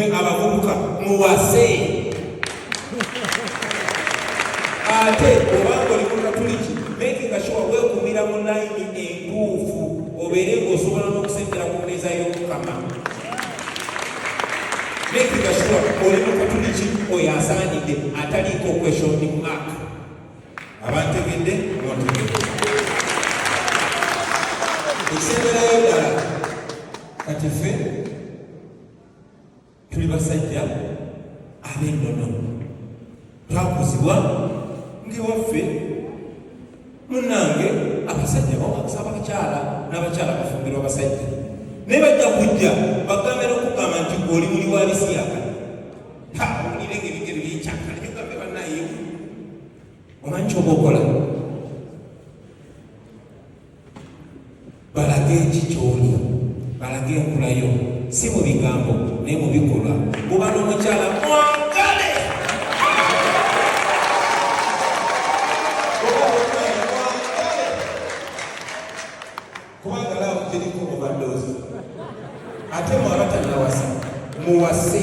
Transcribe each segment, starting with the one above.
abavubuka muwase ate obanga oli mukatuliki makinga sure wekumira mu layini entuufu obeere ngaosobola n'okusembera ku mmeeza y'omukama makinga sure oli mukatuliki oyo asaanidde ataliiko question mark abantegedde ontegedde ekisemberayo ddala kati ffe tuli basajja ab'ennono twakuzibwa ng'ewaffe munnange abasajja bawakisa abakyala n'abakyala bafumbirwa abasajja naye bajja kujja bagambe n'okugamba nti oli muli wa bisiyaka tawulire ng'ebigere byekyakala nyogambe bannayewu omanyi kyoba okola balage eki kyoli balage enkulayo si mu bigambo naye mu bikolwa kuba n'omukyala mwagale muwase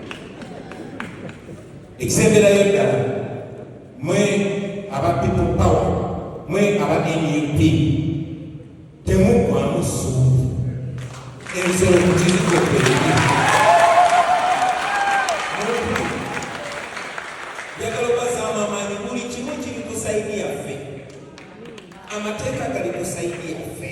ekisemberayo ddala mwe aba people power mwe aba nup temuggwamu ssuubi ensolo kukizikokweera njagala obazaamu amaanyi buli kimu kiri ku saidi yaffe amateeka gali ku saidi yaffe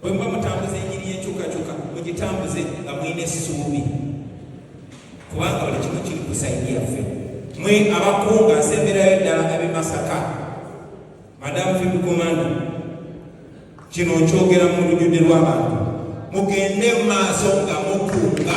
Bwe muba mutambuza enjiri y'enkyukakyuka mugitambuze nga mulina essuubi, kubanga buli kimu kiri ku sayidi yaffe. Mwe abakunga nsemberayo ddala ab'e Masaka, madamu Field Commander, kino nkyogera mu lujjudde lw'abantu, mugende mu maaso nga mukunga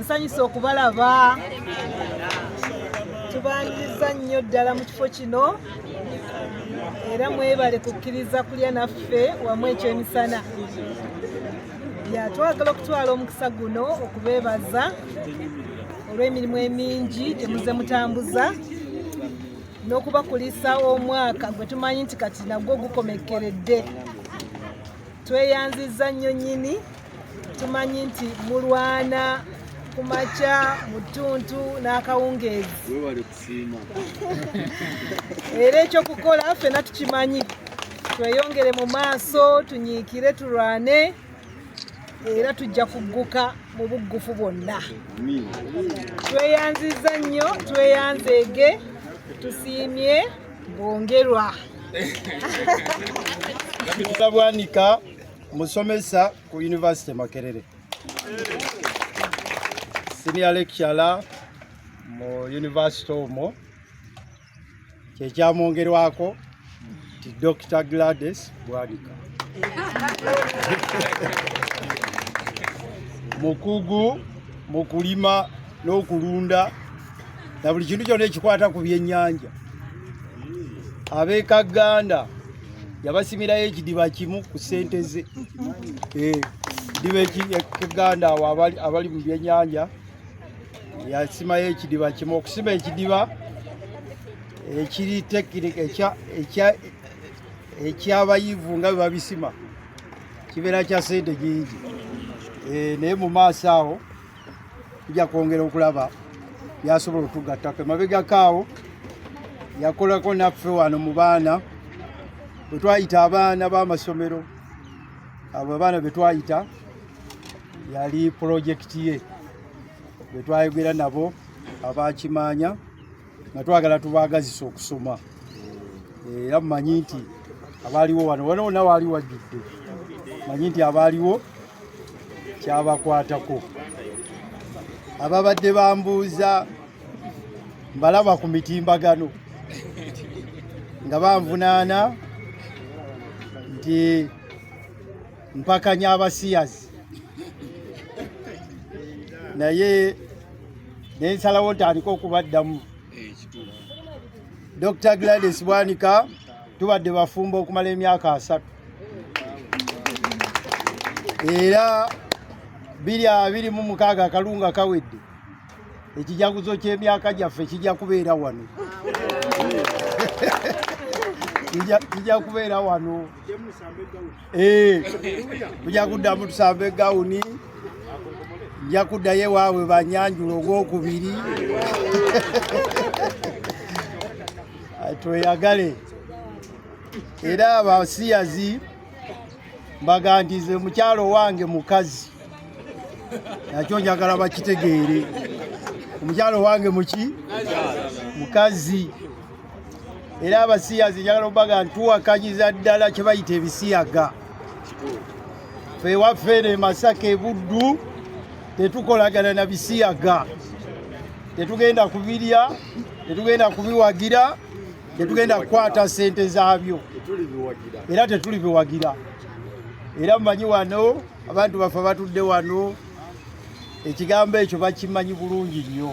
nsanyusa okubalaba tubaniriza nnyo ddala mu kifo kino era mwebale kukkiriza kulya naffe wamu ekyemisana yatwagala okutwala omukisa guno okubeebaza olw'emirimu emingi gyemuze mutambuza n'okubakulisa omwaka gwe tumanyi nti kati nagwo gukomekkeredde tweyanzizza nnyo nnyini tumanyi nti mulwana ku makya mu ttuntu n'akawungeezi era ekyokukola ffena tukimanyi tweyongere mu maaso tunyiikire tulwane era tujja kugguka mu buggufu bwonna tweyanziza nnyo tweyanzeege tusiimye bwongerwa Musomesa ku University Makerere. Senior lecturer mu university omwo kyekyamwongerwako nti Dr. Gladys Bwanika mukugu mu kulima n'okulunda na buli kintu kyona ekikwata ku byennyanja abekaganda yabasimirayo ekidiba kimu ku sente ze eh, diba ekiganda awo abali mu byennyanja yasimayo ekidiba kimu okusima ekidiba ekiri tekinika ekyabayivu nga bebabisima kibeera kya sente nyingi eh, naye mu maaso awo tujja kwongera okulaba yasobola otugattako emabegako awo yakolako naffe wano mu baana bwe twayita abaana b'amasomero abo abaana be twayita yali pulojekiti ye bwe twayogera nabo abakimaanya nga twagala tubaagazisa okusoma eh, era mumanyi nti abaaliwo wano wano wona waali wajjudde manyi nti abaaliwo kyabakwatako ababadde bambuuza mbalaba ku mitimbagano nga banvunaana nti mpakanya abasiyazi naye nensalawo ntandika okubaddamu dr gladys bwanika tubadde bafumba okumala emyaka asatu era biri abiri mu mukaaga akalunga kawedde ekijaguzo ky'emyaka gyaffe kijja kubeera wano kijja kubeera wano tujja kuddamu tusamba egawuni nja kuddayo ewaabwe banyanjula ogwokubiri tweyagale era abasiyazi mbagandize mukyalo wange mukazi nakyo njagala bakitegeere omukyalo wange muki mukazi era abasiyazi njagala obaga ntuwakanyiza ddala kyebayita ebisiyaga fe waffe ne masaka ebuddu tetukolagana na bisiyaga tetugenda kubirya tetugenda kubiwagira tetugenda kukwata sente zaabyo era tetulibiwagira era mumanyi wano abantu baffe batudde wano ekigambo ekyo bakimanyi bulungi nnyo